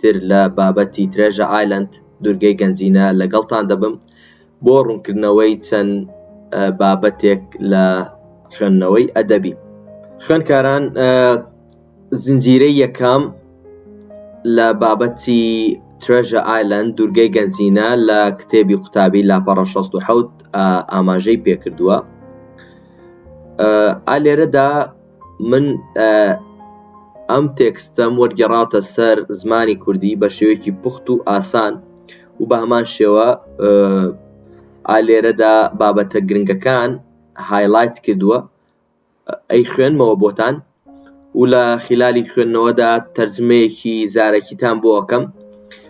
تر لە بابەتی ترێژە ئایلەند، دوورگەی گەنجینە، لەگەڵتان دەبم بۆ ڕوونکردنەوەی چەند بابەتێک لە خوێندنەوەی ئەدەبی. خوێندکاران زنجیرەی یەکەم لە بابەتی ترێژە ئایلەند، دوورگەی گەنجینە، لە کتێبی قوتابی لاپەڕە شەست و حەوت ئاماژەی پێکردووە. ئا لێرەدا من ئەم تێکستەم وەرگێڕاوتە سەر زمانی کوردی بە شێوەیەکی پوخت و ئاسان و بە هەمان شێوە ئالێرەدا بابەتە گرنگەکان هایلایت کردووە ئەی خوێنمەوە بۆتان و لە خلالی خوێندنەوەدا تەرجمەیەکی زارەکیتان بۆ ئەەکەم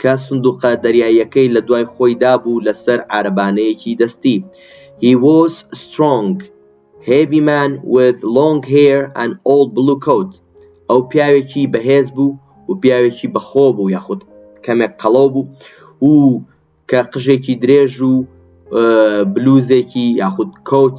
کە سندوقە دەریاییەکەی لە دوای خۆی دابوو لە سەر عارەبانەیەکی دەستی He was strong heavy man with long hair and old blue coat ئەو پیاوێکی بەهێز بوو و پیاوێکی بەخۆ بوو یاخود کەمێک قەڵەو بوو و کە قژێکی درێژ و بلوزێکی یاخود کۆچ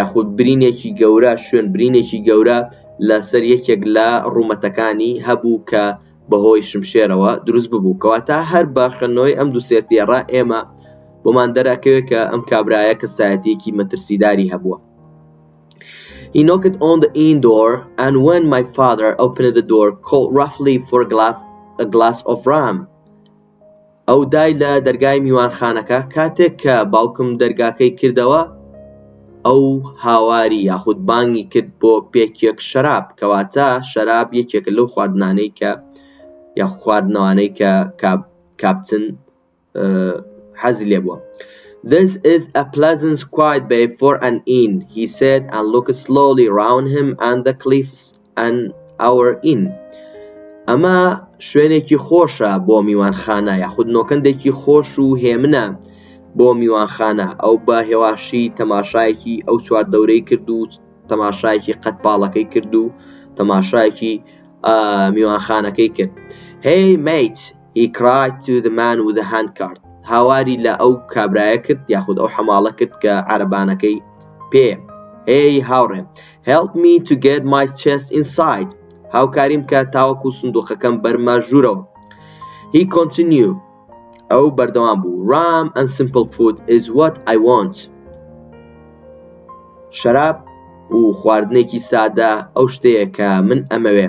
یاخود برینێکی گەورە شوێن برینێکی گەورە لەسەر یەکێک لە ڕوومەتەکانی هەبوو کە بەهۆی شمشێرەوە دروست ببوو کەواتە هەر بە خوێندنەوەی ئەم دوو سێرتێڕە ئێمە بۆمان دەرەکەوێت کە ئەم کابرایە کەسایەتێکی مەترسیداری هەبووە He knocked on the inn door and when my father opened the door called roughly for a glass, a glass of rum ئەو دای لە دەرگای میوانخانەکە کاتێک کە باوکم دەرگاکەی کردەوە ئەو هاواری یاخود بانگی کرد بۆ پێکێک شەراب کەواتە شەراب یەکێکە لەو خواردنانەی کە یاخو خواردنەوانەی کە کاپتن حەزی لێ بووە This is a pleasant quiet bay for an inn he said and looked slowly round him and the cliffs An Hour Inn ئەمە شوێنێکی خۆشە بۆ میوانخانە یاخود نۆکەندێکی خۆش و هێمنە بۆ میوانخانە ئەو بە هێواشی تەماشایەکی ئەو چوار دەورەی کرد و تەماشایەکی قەت پاڵەکەی کرد و تەماشایەکی میوانخانەکەی کرد هی میت He cried to the man with the handcart هاواری لە ئەو کابرایە کرد یاخود ئەو حەماڵە کرد کە عەرەبانەکەی پێیە هێی هاوڕێ Help me to get my chest inside هاوکاریم کە تاوەکو سندوقەکەم بەرمە ژوورەوە He continue ئەو بەردەوام بوو Ram and simple food is what I want شەراب و خواردنێکی سادە ئەو شتەیە کە من ئەمەوێ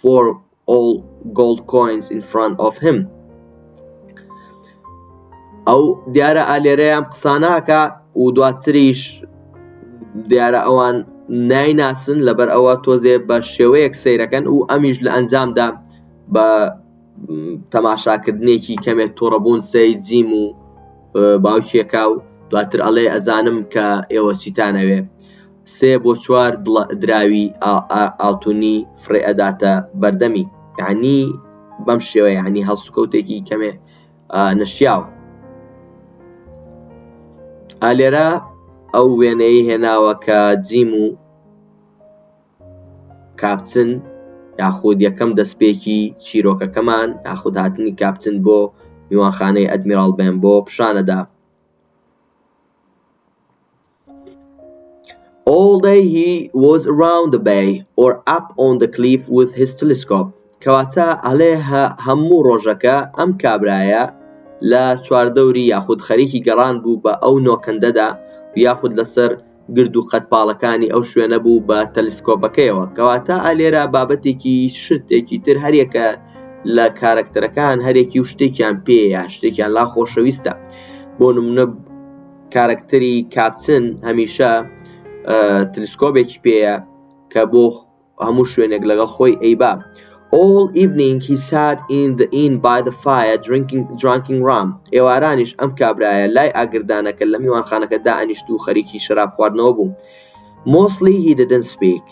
for all gold coins in front of him ئەو دیارە ئالێرەیان قساناکە و دواتریش دیارە ئەوان نایناسن لەبەر ئەوە تۆزێ بە شێوەیەک سیرەکەن و ئەمیش لە ئەنجامدا بە تەماشاکردنێکی کەمێک تۆڕەبوون سەی جیم و باوکێکا و دواتر ئەڵێ ئەزانم کە ئێوە چیتانەوێ سێ بۆ چوار دڵە دراوی ئاڵتونی فڕێ ئەداتە بەردەمی یەعنی بەم شێوە یەعنی هەڵسوکەوتێکی کەمێ نەشیاو ئالێرە ئەو وێنەی هێناوە کە جیم و کاپچن یاخود یەکەم دەستپێکی چیرۆکەکەمان یاخود هاتنی کاپچن بۆ میوانخانەی ئەدمیراڵ بێن بۆ پیشانەدا ئۆڵ دەی هی وۆز ئەراوند دە بەی ئۆر ئەپ ئۆن دە کلیف ویز هیز تلیسکۆپ کەواتە ئەڵێ هەموو ڕۆژەکە ئەم کابرایە لە چواردەوری یاخود خەریکی گەڕان بوو بە ئەو نۆکەندەدا یاخود لەسەر گرد و قەدپاڵەکانی ئەو شوێنە بوو بە تەلیسکۆپەکەیەوە کەواتە ئەلێرە بابەتێکی شتێکی تر هەریەکە لە کارەکتەرەکان هەرێکی و شتێکیان پێ یا شتێکیان لا خۆشەویستە بۆ نمونە کارەکتەری کاپتن هەمیشە تلسکۆبێکی پێیە کە بۆ هەموو شوێنێک لەگەڵ خۆی ئەیبا All evening he sat in the inn by the fire drinking drinking rum ئێوارانیش ئەم کابرایە لای ئاگردانەکە لە میوانخانەکە دا ئەنیشت و خەریکی شەراب خواردنەوە بوو Mostly he didn't speak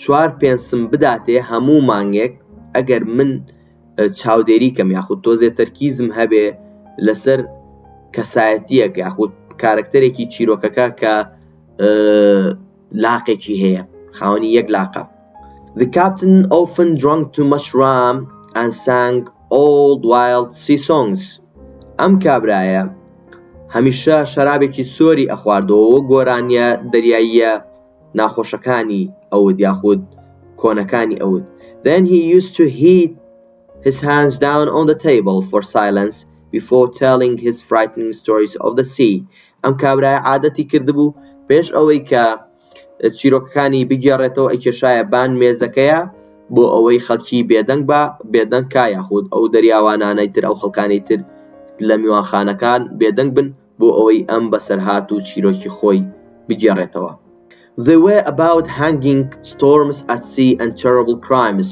چوار پێنسم بداتێ هەموو مانگێک ئەگەر من چاودێری کەم یاخود تۆزێ تەرکیزم هەبێ لەسەر کەسایەتیەک یاخود کارەکتەرێکی چیرۆکەکە کە لاقێکی هەیە خاوەنی یەک لاقە The captain often drunk too much ram and sang old wild sea songs ئەم کابرایە هەمیشە شەرابێکی سۆری ئەخواردەوە گۆرانیە دەریاییە ناخۆشەکانی ئەوت یاخود کۆنەکانی ئەوت Then he used to hit his hands down on the table for silence before telling his frightening stories of the sea ئەم کابرایە عادەتی کردبوو پێش ئەوەی کە چیرۆکەکانی بگێڕێتەوە ئەیکێشایە بان مێزەکەیە بۆ ئەوەی خەڵکی بێدەنگ بە بێدەنگ کا یاخود ئەو دەریاوانانەی تر ئەو خەڵکانی تر لە میوانخانەکان بێدەنگ بن بۆ ئەوەی ئەم بەسەرهات و چیرۆکی خۆی بگێڕێتەوە The way about hanging storms at sea and terrible crimes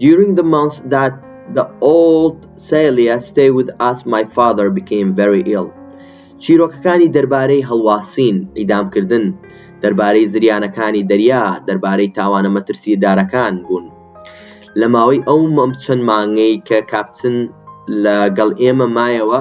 During the months that the old Celia stayed with us my father became very ill چیرۆکەکانی دەربارەی هەڵواسین، ئیدامکردن، دەربارەی زریانەکانی دەریا، دەربارەی تاوانە مەترسیدارەکان بوون. لە ماوەی ئەو چەند مانگەی کە کاپتن لەگەڵ ئێمە مایەوە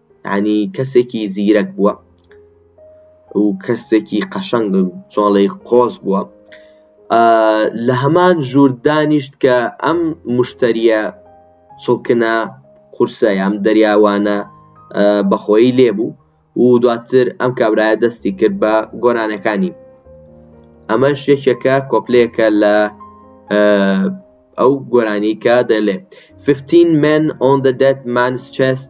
یانی کەسێکی زیرەک بووە و کەسێکی قەشەنگ چۆڵی قۆز بووە لە هەمان ژوور دانیشت کە ئەم مشتریە سڵکنە قورسە یام دەریاوانە بەخۆی لێبوو و دواتر ئەم کابرایە دەستی کرد بە گۆرانەکانی ئەمەش یەکێکە کۆپلەیەکە لە ئەو گۆرانی کە دەلێ 15 men on the dead man's chest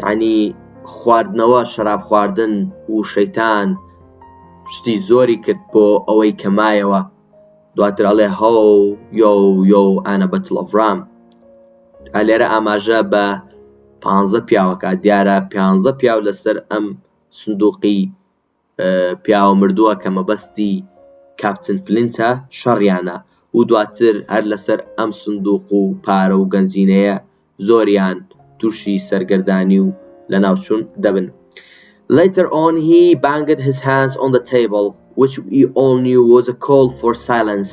یەعنی خواردنەوە شەراب خواردن و شەیتان شتی زۆری کرد بۆ ئەوەی کە مایەوە دواتر ئەڵێ هەو یۆ یۆ ئەنە بەتڵەڤرام ئەلێرە ئاماژە بە پانزە پیاوەکە دیارە پانزە پیاو لەسەر ئەم سندوقی پیاوە مردووە کە مەبەستی کاپتن فلینتە شەڕیانە و دواتر هەر لەسەر ئەم سندوق و پارە و گەنجینەیە زۆریان تووشی سەرگەردانی و لەناوچوون دەبن Later on he banged his hands on the table which we all knew was a call for silence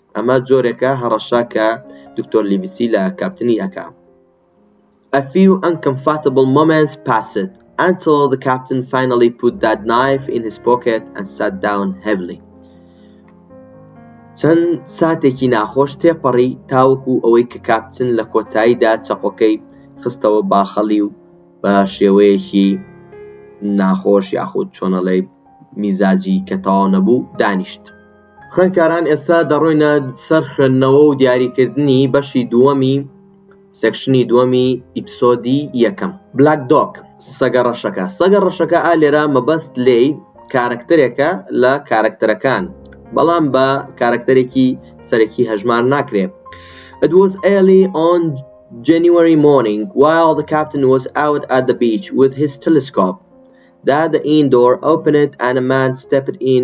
ئەمە جۆرێکە هەڕەشە کە دکتۆر لیڤسی لە کاپتنی ئەکا A few uncomfortable moments passed until the captain finally put that knife in his pocket and sat down heavily چەند ساتێکی ناخۆش تێپەڕی تاوەکو ئەوەی کە کاپتن لە کۆتاییدا چەقۆکەی خستەوە باخەڵی و بە شێوەیەکی ناخۆش یاخود چۆنەڵێ میزاجی کە تەواو نەبوو دانیشت خوێندکاران ئێستا دەڕۆینە سەر خوێندنەوە و دیاریکردنی بەشی دووەمی سێکشنی دووەمی ئیپسۆدی یەکەم بلاک دۆک سەگە ڕەشەکە سەگە ڕەشەکە ئا لێرە مەبەست لێی کارەکتەرێکە لە کارەکتەرەکان بەڵام بە کارەکتەرێکی سەرەکی هەژمار ناکرێت It was early on January morning while the captain was out at the beach with his telescope that the indoor opened and a man stepped in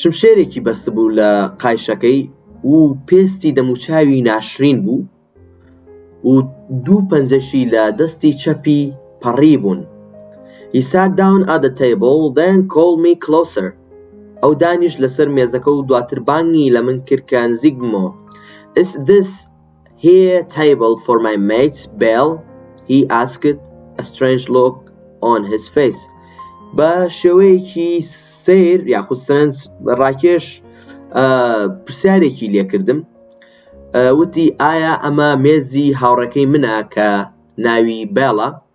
شمشێرێکی بەستبوو لە قایشەکەی و پێستی دەموچاوی ناشرین بوو و دوو پەنجەشی لە دەستی چەپی پەڕی بوون He sat down at the table then called me closer ئەو دانیشت لەسەر مێزەکە و دواتر بانگی لە من کرد کە نزیک بمەوە Is this He a table for my mates Bell He asked a strange look on his face بە شێوەیەکی سیر یاخود سەرنج ڕاکێش پرسیارێکی لێکردم وتی ئایا ئەمە مێزی هاوڕەکەی منە کە ناوی بێڵە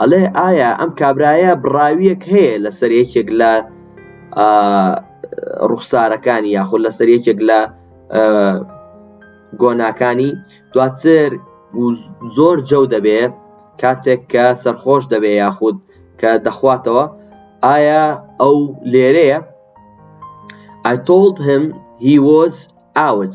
ئەڵێ ئایا ئەم کابرایە بڕاویەک هەیە لەسەر یەکێک لە ڕوخسارەکانی یاخود لەسەر یەکێک لە گۆناکانی دواتر زۆر جەو دەبێ کاتێک کە سەرخۆش دەبێ یاخود کە دەخواتەوە ئایا ئەو لێرەیە I told him he was out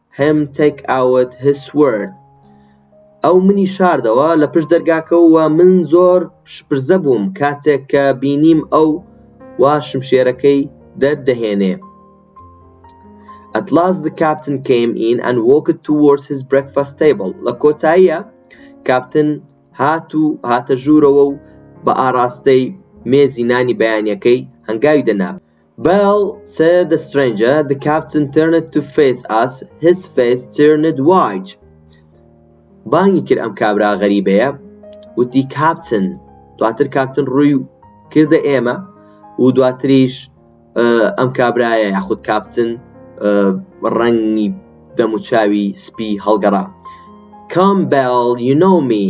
him take out his sword ئەو منی شاردەوە لە پشت دەرگاکەوە و من زۆر شپرزە بووم کاتێک کە بینیم ئەو وا شمشێرەکەی دەردەهێنێ At last the captain came in and walked towards his breakfast table لە کۆتاییە کاپتن هات و هاتە ژوورەوە و بە ئاراستەی مێزی نانی بەیانیەکەی هەنگاوی دەنا Bell said the stranger, the captain turned to face us, his face turned white بانگی کرد ئەم کابرا غەریبەیە وتی کاپتن دواتر کاپتن ڕووی کردە ئێمە و دواتریش ئەم کابرایە یاخود کاپتن ڕەنگی دەموچاوی سپی هەڵگەڕا کام بەڵ یونۆمی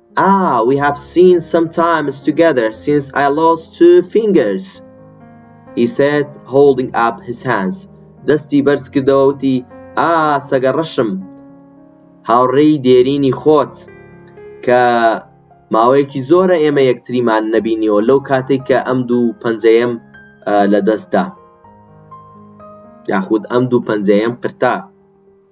Ah, we have seen some times together since I lost two fingers He said, holding up his hands دەستی بەرز کردەوە وتی ئا سەگە ڕەشم هاوڕێی دێرینی خۆت کە ماوەیەکی زۆرە ئێمە یەکتریمان نەبینیەوە لەو کاتێک کە ئەم دوو پەنجەیەم لە دەستدا یاخود ئەم دوو پەنجەیەم قرتا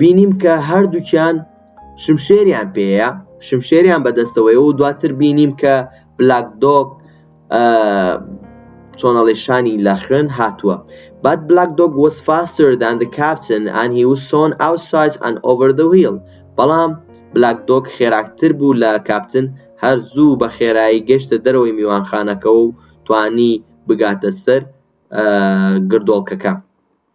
بینیم کە هەردووکیان شمشێریان پێیە شمشێریان بەدەستەوەی و دواتر بینیم کە بلاک دۆک چۆنەڵێشانی لە خوێن هاتووە بات بلاک دۆک وەس فاستر دان دە کاپتن ئەن هی وسۆن ئاوسایز ئەن ئۆڤەر دە ویل بەڵام بلاک دۆک خێراکتر بوو لە کاپتن هەر زوو بە خێرایی گەشتە دەرەوەی میوانخانەکە و توانی بگاتە سەر گردۆڵکەکە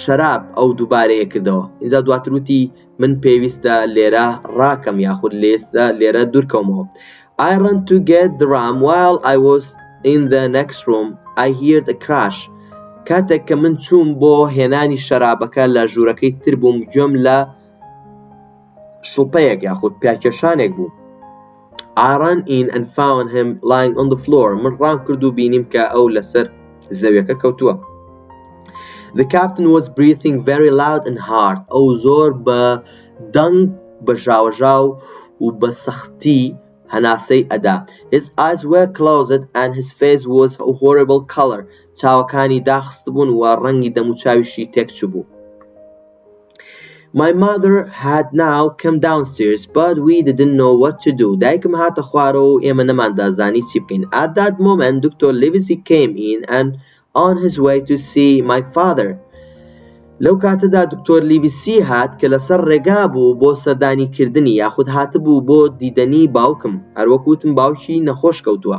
شەراب ئەو دووبارەیە کردەوە ئینجا دواتر وتی من پێویستە لێرە ڕاکەم یاخود لێستە لێرە دوورکەومەوە I run to get the ram while I was in the next room I heard a crash کاتێک کە من چووم بۆ هێنانی شەرابەکە لە ژوورەکەی تر بووم گوێم لە شڵپەیەک یاخود پیاکێشانێک بوو ئاران ئین ئەن فاون هەم لاین ئۆن فلۆر من ڕام کرد و بینیم کە ئەو لەسەر زەویەکە کەوتووە The captain was breathing very loud and hard ئەو زۆر بە دەنگ بە ژاوەژاو و بە سەختی هەناسەی ئەدا His eyes were closed and his face was a horrible color چاوەکانی داخست بوون و ڕەنگی دەموچاویشی تێکچبوو My mother had now come downstairs but we didn't know what to do دایکم هاتە خوارەوە و ئێمە نەماندا زانی چی بکەین At that moment دکتۆر لیڤزی came in and on his way to see my father لەو کاتەدا دکتۆر لیڤسی هات کە لەسەر ڕێگا بوو بۆ سەردانی کردنی یاخود هاتبوو بۆ دیدەنی باوکم هەروەک وتم باوکی نەخۆش کەوتووە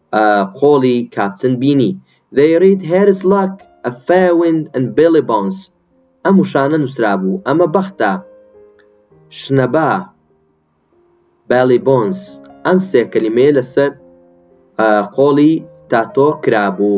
قۆڵی کاپتن بینی They read Harry's luck، A fair wind and Billy Bones ئەم وشانە نووسرابوو، ئەمە بەختە، شنەبا، Billy Bones ئەم سێ کەلیمەیە لەسەر قۆڵی تاتۆ کرابوو.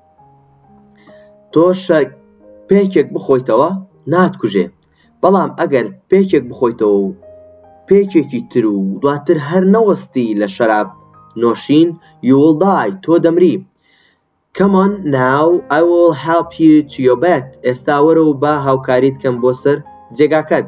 تۆ پێکێک بخۆیتەوە ناتکوژێ بەڵام ئەگەر پێکێک بخۆیتەوە و پێکێکی تر و دواتر هەر نەوەستی لە شەراب نۆشین you will die تۆ دەمری Come on now I will help you to your bed ئێستا وەرە و با هاوکاریت کەم بۆ سەر جێگاکەت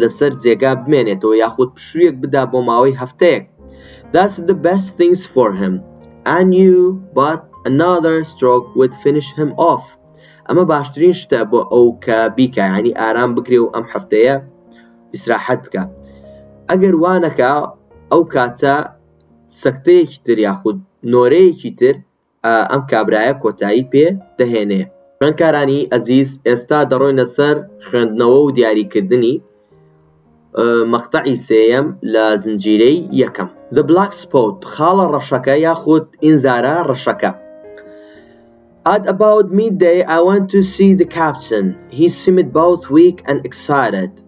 لەسەر جێگا بمێنێتەوە یاخود پشوویەک بدا بۆ ماوەی هەفتەیەک That's the best things for him and you but another stroke would finish him off ئەمە باشترین شتە بۆ ئەو کە بیکە ینی ئارام بکرێ و ئەم هەفتەیە ئیسراحەت بکە ئەگەر وانەکە ئەو کاتە سەکتەیەکی تر یاخود نۆرەیەکی تر ئەم کابرایە کۆتایی پێ دەهێنێ. خوێندکارانی ئەزیز ئێستا دەڕۆینە سەر خوێندنەوە و دیاریکردنی مەقتەعی سێیەم لە زنجیرەی یەکەم The Black Spot خاڵە ڕەشەکە یاخود ئینزارە ڕەشەکە At about midday I went to see the captain. He seemed both weak and excited.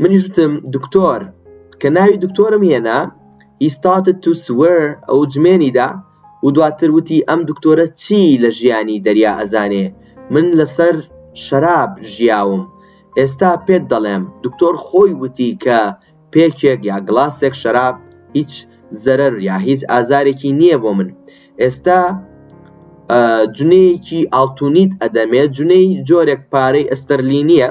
منیش وتم دکتۆر کە ناوی دکتۆرم هێنا He started to swear ئەو جمێنی دا و دواتر وتی ئەم دکتۆرە چی لە ژیانی دەریا ئەزانێ من لەسەر شەراب ژیاوم ئێستا پێت دەڵێم دکتۆر خۆی وتی کە پێکێک یا گڵاسێک شەراب هیچ زەرەر یا هیچ ئازارێکی نییە بۆ من ئێستا جنێیەکی ئاڵتونیت ئەدەمێ جنێی جۆرێک پارەی ئەستەرلینیە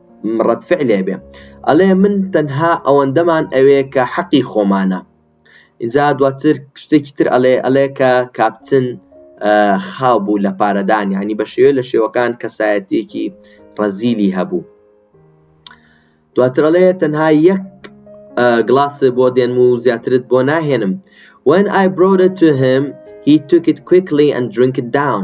ڕەد فعلێ بێ ئەڵێ من تەنها ئەوەندەمان ئەوێ کە حەقی خۆمانە ئینجا دواتر شتێکی تر ئەڵێ ئەڵێ کە کاپتن خاو بوو لە پارەدان ینی بە شێوێ لە شێوەکان کەسایەتێکی ڕەزیلی هەبوو دواترڵێ تەنها یەک گلاس بۆ دێن و زیاترت بۆ ناهێنم when I brought it to him he took it quickly and drink it down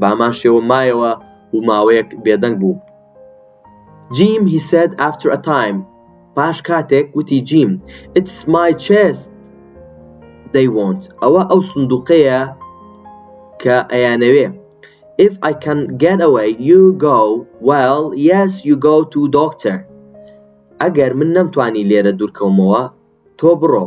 بەهەمان شێوە مایەوە و ماوەیەک بێدەنگ بووم. جیم he said after a time پاش کاتێک وتی جیم It's my chest they want ئەوە ئەو سندوقەیە کە ئەیانەوێ If I can get away you go well yes you go to doctor ئەگەر من نەمتوانی لێرە دوورکەومەوە تۆ بڕۆ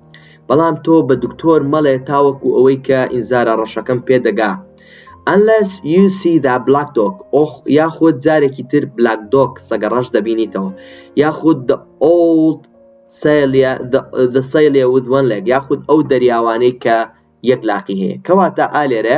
بەڵام تۆ بە دکتۆر مەڵێ تاوەکو ئەوەی کە ئینزارە ڕەشەکەم پێ دەگا Unless you see the black dog ئۆخ یاخود جارێکی تر بلاک دۆک سەگە ڕەش دەبینیتەوە یاخود the old سەیلە the سەیلە with one leg یاخود ئەو دەریاوانەی کە یەک لاقی هەیە کەواتە ئالێرە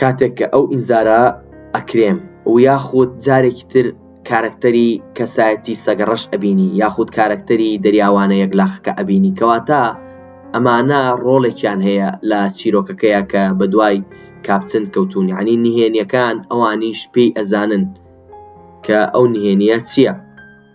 کاتێک کە ئەو ئینزارە ئەکرێم و یاخود جارێکی تر کارەکتەری کەسایەتی سەگەڕەش ئەبینی یاخود کارەکتەری دەریاوانە یەکلاخەکە ئەبینی کەواتە ئەمانە ڕۆڵێکیان هەیە لە چیرۆکەکەیا کە بەدوای کاپتن کەوتوون یانی نهێنیەکان ئەوانیش پێی ئەزانن کە ئەو نهێنیە چیە.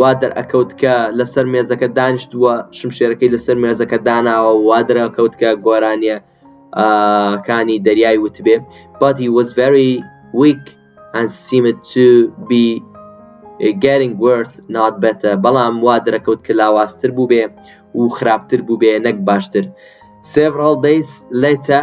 وا دەرئەکەوت کە لەسەر مێزەکە دانیشتووە شمشێرەکەی لەسەر مێزەکە داناوە وا دەرەکەوت کە گۆرانیە کانی دەریای وتبێ but he was very weak and seemed to be getting worth not better بەڵام وا دەرەکەوت کە لاواستر بوو بێ و خراپتر بوو بێ نەک باشتر several days later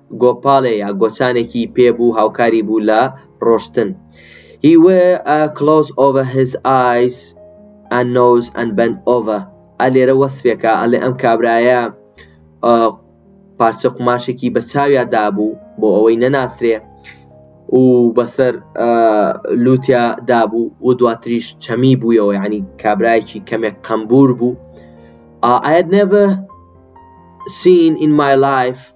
گۆپالێ یا گۆچانێکی پێ بوو هاوکاری بوو لە ڕۆشتن He wear a cloth over his eyes and nose and bent over ئە لێرە وەسفێکە ئەلێ ئەم کابرایە پارچە قوماشێکی بە چاویا دابوو بۆ ئەوەی نەناسرێ و بەسەر لوتیا دابوو و دواتریش چەمی بوویەوە ینی کابراایکی کەمێک قەمبور بوو I had never seen in my life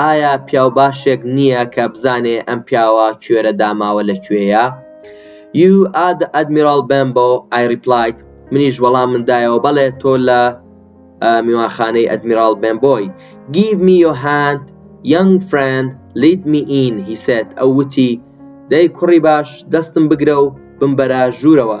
ئایا پیاو باشێک نییە کە بزانێ ئەم پیاوە کوێرە داماوە لە کوێیە You are the Admiral Bembo I replied منیش وەڵام من دایەوە بەڵێ تۆ لە میوانخانەی ئەدمیراڵ بمبۆی Give me your hand young friend lead me in he said ئەو وتی دەی کوڕی باش دەستم بگرە و بمبەرە ژوورەوە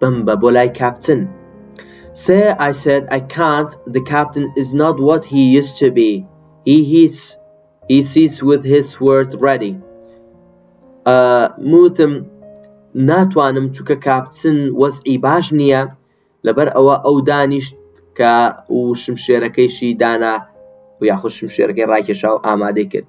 بمبە بۆ لای کاپتن Sir I said I can't the captain is not what he used to be he he's he sees with his words ready موتم ناتوانم چونکە کاپتن وەزعی باش نییە لەبەر ئەوە ئەو دانیشت کە و شمشێرەکەیشی دانا و یاخود شمشێرەکەی ڕاکێشا و ئامادەی کرد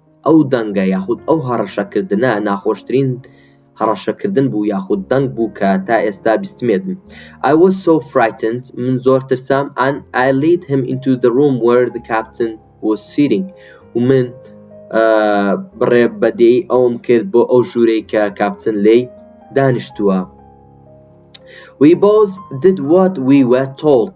ئەو دەنگە یاخود ئەو هەڕەشەکردنە ناخۆشترین هەڕەشەکردن بوو یاخود دەنگ بوو کە تا ئێستا بیستمیەتم I was so frightened من زۆر ترسام and I lead him into the room where the captain was sitting و من بڕێ بەدێی ئەوم کرد بۆ ئەو ژوورەی کە کاپتن لی دانیشتووە We both did what we were told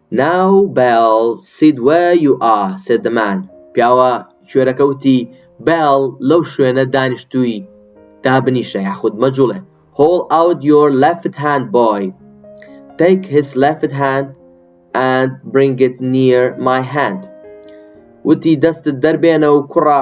ناو بەیڵ سید وە یو ئا سێدمان پیاوە کوێرەکە وتی بەیڵ لەو شوێنە دانیشتووی دابنیشە یاخود مەجوڵێ هۆڵ ئاوت یۆر لەفت هاند بۆی تەیک هیس لەفت هاند ئەند برینگت نیەر مای هاند وتی دەستت دەربێنە و کوڕە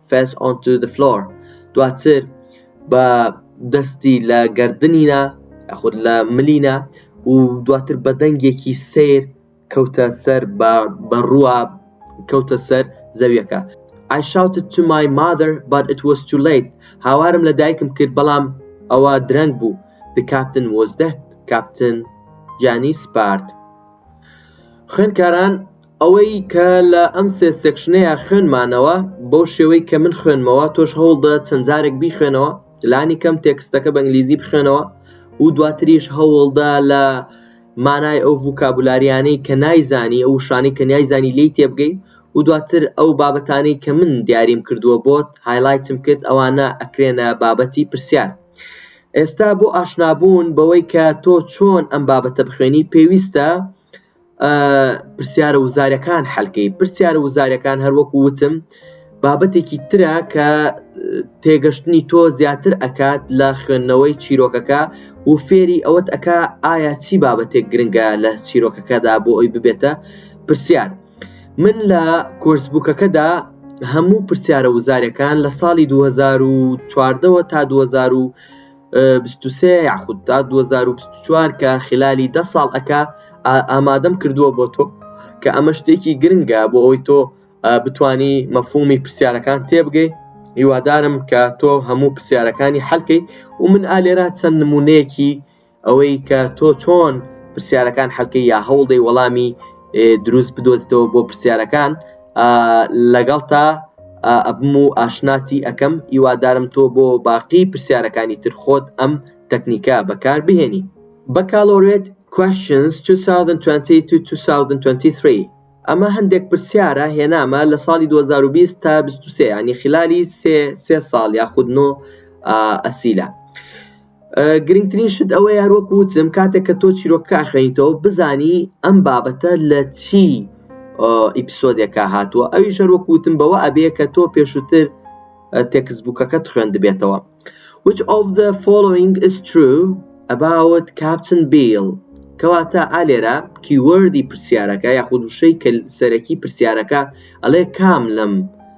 Face onto the floor دواتر بە دەستی لە گردنینا یاخود لە ملینا و دواتر بە دەنگێکی سیر کەوتە سەر بە ڕووە کەوتە سەر زەویەکە I shouted to my mother but it was too late هاوارم لە دایکم کرد بەڵام ئەوە درەنگ بوو The captain was dead کاپتن گیانی سپارد خوێندکاران ئەوەی کە لە ئەم سێ سێکشنەیا خوێنمانەوە بەو شێوەی کە من خوێنمەوە تۆش هەوڵدە چەند جارێک بیخوێنەوە لانی کەم تێکستەکە بە ئینگلیزی بخوێنەوە و دواتریش هەوڵدە لە مانای ئەو ڤوکابولاریانەی کە نایزانی ئەو شانەی کە نایزانی لی تێبگەی و دواتر ئەو بابەتانەی کە من دیاریم کردووە بۆت هایلایتم کرد ئەوانە ئەکرێنە بابەتی پرسیار ئێستا بۆ ئاشنابوون بەوەی کە تۆ چۆن ئەم بابەتە بخوێنی پێویستە پرسیارە وزارەکان حلکەی پرسیارە وزارەکان هەروەکو وتم بابەتێکی ترە کە تێگەشتنی تۆ زیاتر ئەکات لە خوێندنەوەی چیرۆکەکە و فێری ئەوەت ئەک ئایا چی بابەتێک گرنگە لە چیرۆکەکەدا بۆ ئەوی ببێتە پرسیار من لە کۆرسبووکەکەدا هەموو پرسیارە وزارەکان لە ساڵی 2014ەوە تا 2000 بیست و سێ یاخود تا دوو هەزار و بیست و چوار کە خلالی دە ساڵ ئەکا ئا ئامادەم کردووە بۆ تۆ کە ئەمە شتێکی گرنگە بۆ ئەوی تۆ ئا بتانی مەفهومی پرسیارەکان تێبگەی هیوادارم کە تۆ هەموو پرسیارەکانی حەلکەی و من ئا لێرا چەند نموونەیەکی ئەوەی کە تۆ چۆن پرسیارەکان حەلکەی یا هەوڵدەی وەڵامی ئێ دروست بدۆزیتەوە بۆ پرسیارەکان لەگەڵتا ئەبم و ئاشناتی ئەکەم ئیوادارم تۆ بۆ باقی پرسیارەکانی تر خۆت ئەم تەکنیکە بەکار بهێنی بەکالۆرێت Questions 2022-2023 ئەمە هەندێک پرسیارە هێنامە لە ساڵی 2020 تا 23 یانی خلالی سێ سێ ساڵ یاخود نۆ ئەسیلە. گرنگترین شت ئەوە یار وەکو وتم کاتێک کە تۆ چیرۆکە خوێنیتەوە بزانی ئەم بابەتە لە چی ئیپسۆدێکە هاتووە ئەوی ژەر وەکو وتم بەوە ئەبێ کە تۆ پێشووتر تێکس بووکەکەت خوێندبێتەوە which of the following is true about Captain Bill کەواتە ئالێرا کیوەردی پرسیارەکە یاخود وشەی کە سەرەکی پرسیارەکە ئەڵێ کام لەم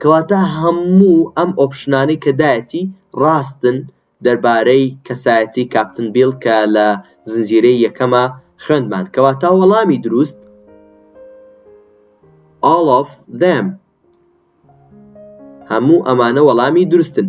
کەواتە هەموو ئەم ئۆپشنانەی کە دایەتی ڕاستن دەربارەی کەسایەتی کاپتن بیڵ کە لە زنجیرەی یەکەما خوێندمان کەواتە وەڵامی دروست all of them هەموو ئەمانە وەڵامی دروستن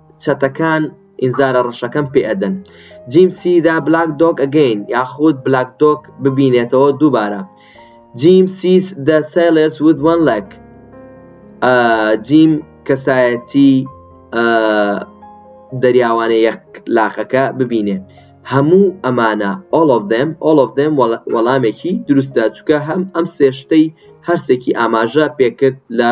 چەتەکان ئینزارە ڕەشەکەم پێ ئەدەن جیم سی دا بلاک دۆک ئەگەین یاخود بلاک دۆک ببینێتەوە دووبارە جیم سیس دە سیلرس وذ وان لەک جیم کەسایەتی دەریاوانە یەک لاقەکە ببینێ هەموو ئەمانە all of them all of them وەڵامێکی دروستە چکە هەم ئەم سێشتەی هەرسێکی ئاماژە پێکرد لە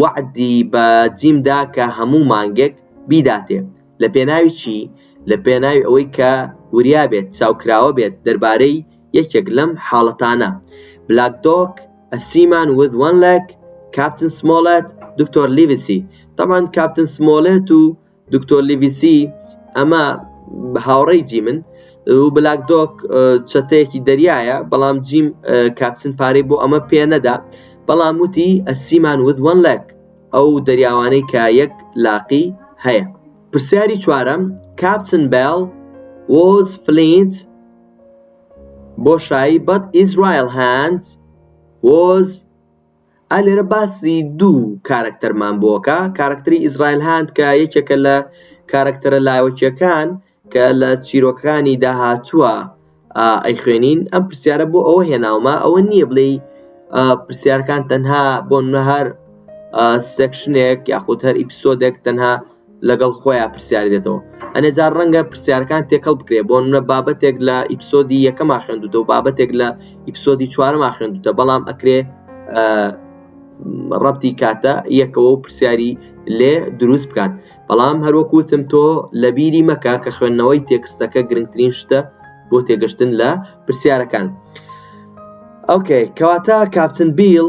وەعدی بە جیم دا کە هەموو مانگێک بیداتێ. لە پێناوی چی؟ لە پێناوی ئەوەی کە وریا بێت، چاوکراوە بێت دەربارەی یەکێک لەم حاڵەتانە، بلاک دۆگ، ئە سیمان ویز وەن لێگ، کاپتن سمۆڵێت، دکتۆر لیڤسی. تەبعەن کاپتن سمۆڵێت و دکتۆر لیڤیسی، ئەمە هاوڕێی جیمن، و بلاک دۆگ چەتەیەکی دەریایە، بەڵام جیم کاپتن پارەی بۆ ئەمە پێ نەدا، بەڵام وتی، A seaman with one leg، ئەو دەریاوانەی کە یەک لاقی هەیە. پرسیاری چوارەم، Captain Bell was flint، بۆشایی، but his right hand was ئا لێرە باسی دوو کارەکتەرمان بۆ کە کارەکتەری ئیزرائیل هاند کە یەکێکە لە کارەکتەرە لاوەکیەکان کە لە چیرۆکانی داهاتووە ئەیخوێنین ئەم پرسیارە بۆ ئەوە هێناومە ئەوە نییە بڵێ پرسیارەکان تەنها بۆ نەهار سێکشنێک یاخود هەر ئیپسۆدێک تەنها لەگەڵ خۆیا پرسیار دێتەوە ئەنێ جار ڕەنگە پرسیارەکان تێکەڵ بکرێ بۆ نە بابەتێک لە ئیپسۆدی یەکەما خوێندوتە و بابەتێک لە ئیپسۆدی چوارما خوێندوتە بەڵام ئەکرێ ڕەتی کاتە یەکەوە و پرسیاری لێ دروست بکات بەڵام هەروەکوتم تۆ لە بیری مەکە کە خوێندنەوەی تێکستەکە گرنگترین شتە بۆ تێگەشتن لە پرسیارەکان ئەوکەی کەواتە کاپتن بیل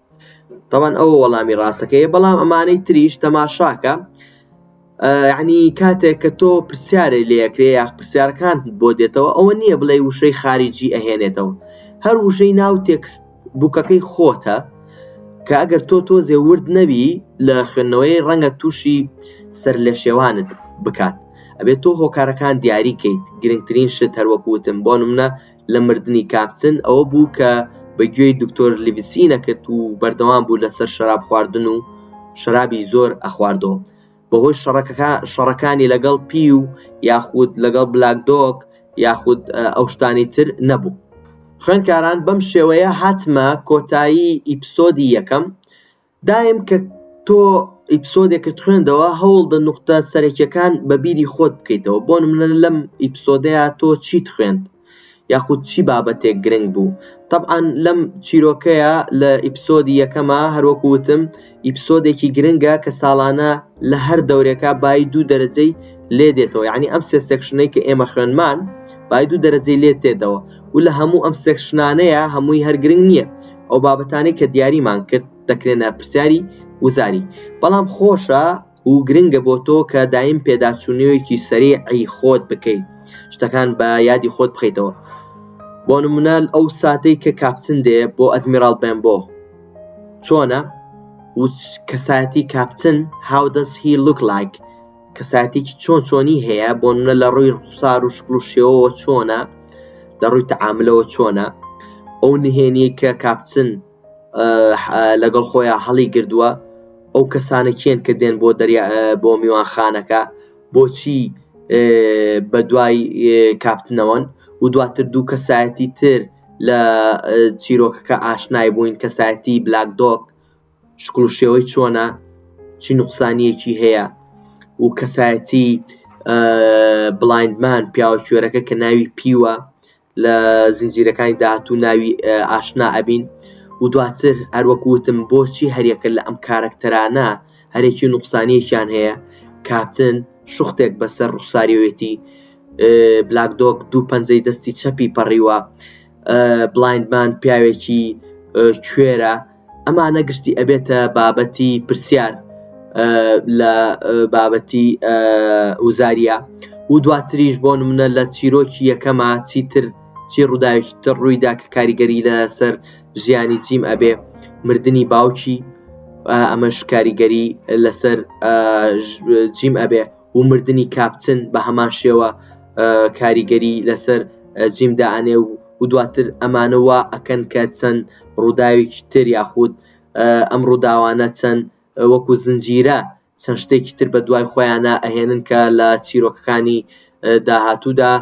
تەوان ئەو وەڵامی ڕاستەکەی بەڵام ئەمانەی تریش تەماشاکە ینی کاتێک کە تۆ پرسیارێ لەکرێ یا پرسیارەکان بۆ دێتەوە ئەوە نییە بڵێ وشەی خارجی ئەهێنێتەوە هەر وشەی ناو تێکست بووکەکەی خۆتە کە ئەگەر تۆ تۆزێ ورد نەبی لە خوێندنەوەی ڕەنگە تووشی سەر لە شێوانت بکات ئەبێت تۆ هۆکارەکان دیاریکەیت گرنگترین شت هەروەکوتم بۆ منە لە مردنی کاپتن ئەوە بوو کە بە گوێی دکتۆر لیڤسی نەکرد و بەردەوام بوو لە سەر شەراب خواردن و شەرابی زۆر ئەخواردەوە بە هۆی شەڕەکەکە شەڕەکانی لەگەڵ پیو یاخود لەگەڵ بلاک دۆک یاخود ئەو شتانی تر نەبوو خوێنکاران بەم شێوەیە هاتمە کۆتایی ئیپسۆدی یەکەم دایم کە تۆ ئیپسۆدێکت خوێندەوە هەوڵدە نوختە سەرەکیەکان بە بیری خۆت بکەیتەوە بۆ منە لەم ئیپسۆدەیە تۆ چیت خوێند یاخود چی بابەتێک گرنگ بوو طبعاان لەم چیرۆکەیە لە ئیپسۆدی یەکەمە هەروەکو وتم ئیپسۆدێکی گرنگە کە ساڵانە لە هەر دەورێکە بای دوو دەرەجەی لێ دێتەوە یعنی ئەم سێ سێکشنەی کە ئێمە خوێنمان بای دوو دەرەجەی لێ تێدەوە و لە هەموو ئەم سێکشنانەیە هەمووی هەرگرنگ نییە ئەو بابەتانەی کە دیاریمان کرد دەکرێنە پرسیاری وزاری بەڵام خۆشە و گرنگە بۆ تۆ کە دایم پێداچوونەوەیەکی سەریعی خۆت بکەیت شتەکان بە یادی خۆت بخەیتەوە بۆ نمونە ئەو ساتەی کە کاپتن دێ بۆ ئەدمیراڵ بێنبۆ چۆنە کەسایەتی کاپتن هاودەس هی لوک لایک کەسایەتێکی چۆن چۆنی هەیە بۆ منە لە ڕووی ڕوخسار و شکل و شێوەوە چۆنە لە ڕووی تەعاملەوە چۆنە ئەو نهێنی کە کاپچن لەگەڵ خۆیان هەڵی گردووە ئەو کەسانە کێن کە دێن بۆ دەریا بۆ میوانخانەکە بۆچی بە دوای کاپتنەوەن و دواتر دوو کەسایەتی تر لە چیرۆکەکە ئاشنای بووین کەسایەتی بلاک دۆک شکڵ و شێوەی چۆنە چی نوقسانیەکی هەیە و کەسایەتی بڵایندمان پیاوە کوێرەکە کە ناوی پیوە لە زنجیرەکانی داهاتوو ناوی ئاشنا ئەبین و دواتر هەروەکوتم بۆچی هەریەکە لە ئەم کارەکتەرانە هەرێکی نوقسانیەکیان هەیە کاپتن شوختێک بەسەر ڕوخساریەتی بلاک دۆک دوو پەنجەی دەستی چەپی پەڕیوە بڵایندمان پیاوێکی کوێرە ئەمانە گشتی ئەبێتە بابەتی پرسیار لە بابەتی وزاریە و دواتریش بۆ منە لە چیرۆکی یەکەما چیتر چی ڕووداوێکی تر ڕوویدا کە کاریگەری لەسەر ژیانی جیم ئەبێ مردنی باوکی ئەمەش کاریگەری لەسەر جیم ئەبێ و مردنی کاپتن بە هەمان شێوە کاریگەری لەسەر جیم دائەنێ و و دواتر ئەمانە وا ئەکەن کە چەند ڕووداوێکی تر یاخود ئەم ڕووداوانە چەند وەکو زنجیرە چەند شتێکی تر بە دوای خۆیانە ئەهێنن کە لە چیرۆکەکانی داهاتوودا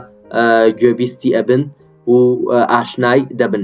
گوێبیستی ئەبن و ئاشنای دەبن